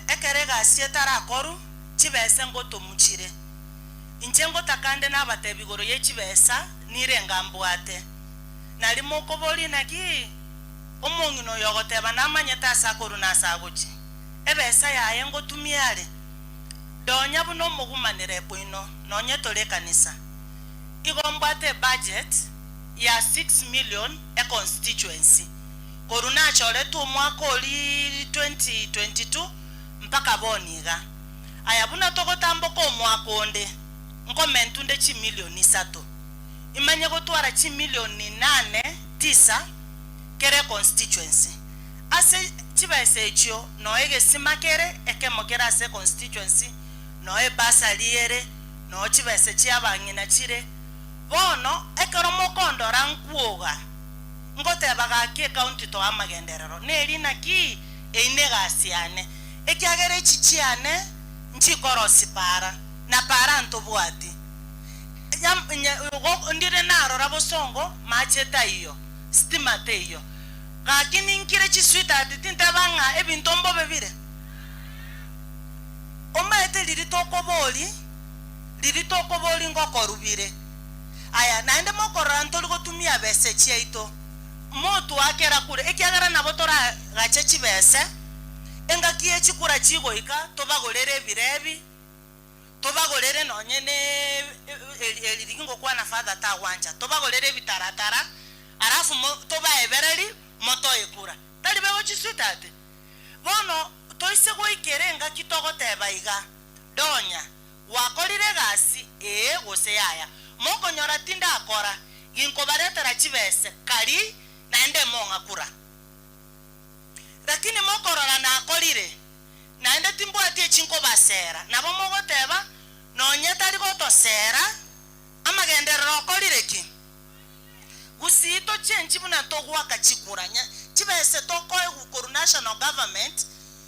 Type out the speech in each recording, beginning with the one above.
Ekero egasi etarakorwa, chibesa engotomuchire. Inche ngotaka nde nabatebi igoro ye chibesa nirenga mbwate. Nari mokoboria naki omong'ina oyo ogoteba namanyete ase akorwa na ase agochia? Ebesa yaye ngotumia are? Donya buna omogumanire bwaino nonye tore ekanisa. Igo mbwate ebudget ya six million econstituency. Korwa nachoretwe omwaka oria 2022 mpaka bono iga, aya buna togotamboka omwaka onde, nkomentwa nde chimilioni isato, imanye gotwara chimilioni inane, tisa, kera econstituency. Ase chibesa echio noo egesima kere ekemo kere ase econstituency, noo ebursary ere, noo chibesa chiabang'ina chire. Bono ekero mokondora nkwoga. Ngoteba gaki ekaunti to amagenderero, neri naki eyio negasi yane, ekiagera echi chiane nchikorosi para, na para ntobwati Nya, ndire narora bosongo, mache taiyo, stima teiyo, gaki ninkire chisweetheart tinteba ng'a ebinto mbobe bire? Omaete riri tokobori, riri tokobori ngokorubire. Aya naende mokorora ntori gotumia ebese chiaito, motoakera kure, ekiagera nabo toragache chibese, engaki ye chikura chigoika, tobagorere ebirebi, tobagorere nonye ne erigi ngokwana father tagwancha, tobagorere ebitaratara, alafu tobaebereri motoe kura. Tari bego chi sweetheart? Bono toise goikera engaki togoteba iga, Donya, Gwakorire egasi eye gose yaya? Mokonyora tindakora, ginkobaretera chibese kari naende mong'akura. Lakini mokorora nakorire, naende timbwati echinkobasera, nabo mogoteba, Nonye tari gotosera, amagenderero okorire ki? Gusii tochenchi buna togoaka chikura, chibese tokoegwa korwa national government,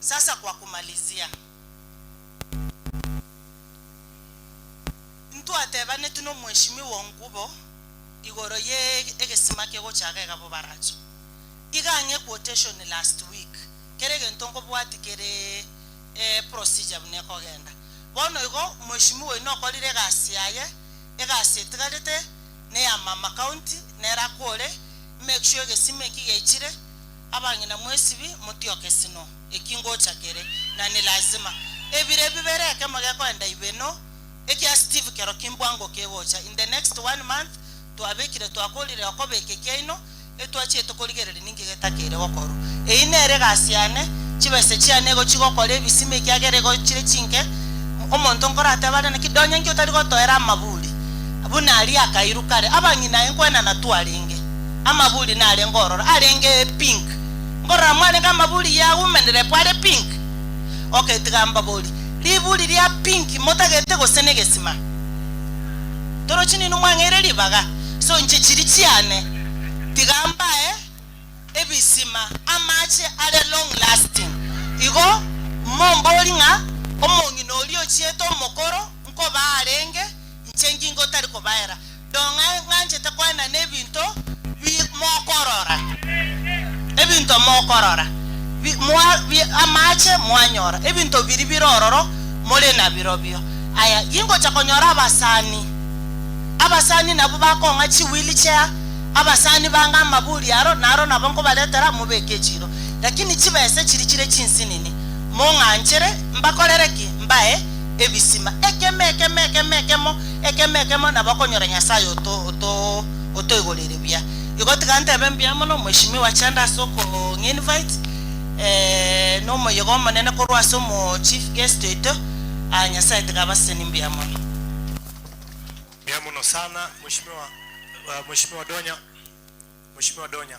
Sasa kwa kumalizia, intwe atebaneti n'Omweshimiwa Ongubo igoro ye egesima kegochaga egabobaracho. Iga ang'e quotation last week, kera egento nkobwati kere procedure buna ekogenda. Bono igo Mweshimiwa oino okorire egasi yaye, egasi etigarete neya Mama County nere akore make sure egesima eki gechire, Abang'ina mwesibi motioke sino eki ngocha kere, na ni lazima. Ebire bibere ekemo gekoenda ibeno, ekia Steve kero kimbwa ngo kegocha. In the next one month twabekire twakorire okobeka ekiaino, etwachiete korigereria ninki getakeire gokorwa. Eyi nere egasi yane, chibese chiane nigo chigokora ebisima ekiagera igo chire chinke. Omonto nkoratebe are naki, Donya inki otari gotoera amaburi buna aria akairu kare? Abang'ina aye nkoenana twarenge. Amaburi narenge ororo arenge pink. Nkorora mwarenge amaburi ya women rep are pink. Okay tiga mbabori. Riburi ria pink motagete gose negesima. Torochi ninwe mwang'eire ribaga. So inche chiri chiane tiga mbae ebisima amache are long lasting. Igo mombori ng'a omong'ina oria ochiete omokoro nkoba arenge inche ngingo tari kobaera. Ndong'e ng'anchete koena nebinto bi mokorora, ebinto mokorora, bi mwa bi amache mwanyora, ebinto biri bire ororo more nabirobio. Aya, ingocha konyora abasani, abasani nabwo bakong'a chi wheel chair, abasani bange amaburi aro, naro nabo nkobaretera mobeke echiro. Lakini chibesa echiri chire chinsinini, mong'anchere mbakorere ki? Mbae ebisima. Ekemo, ekemo, ekemo, ekemo. Ekemo ekemo nabo okonyora Nyasae otoigoreire buya. Igo tiga ntebe mbuya mono Mheshimiwa Chanda ase okong'invite na omoyega omonene korwa ase omo chief guest oito. Nyasae tiga abasesenie mbuya mono. Mbuya mono sana Mheshimiwa Mheshimiwa Donya Mheshimiwa Donya.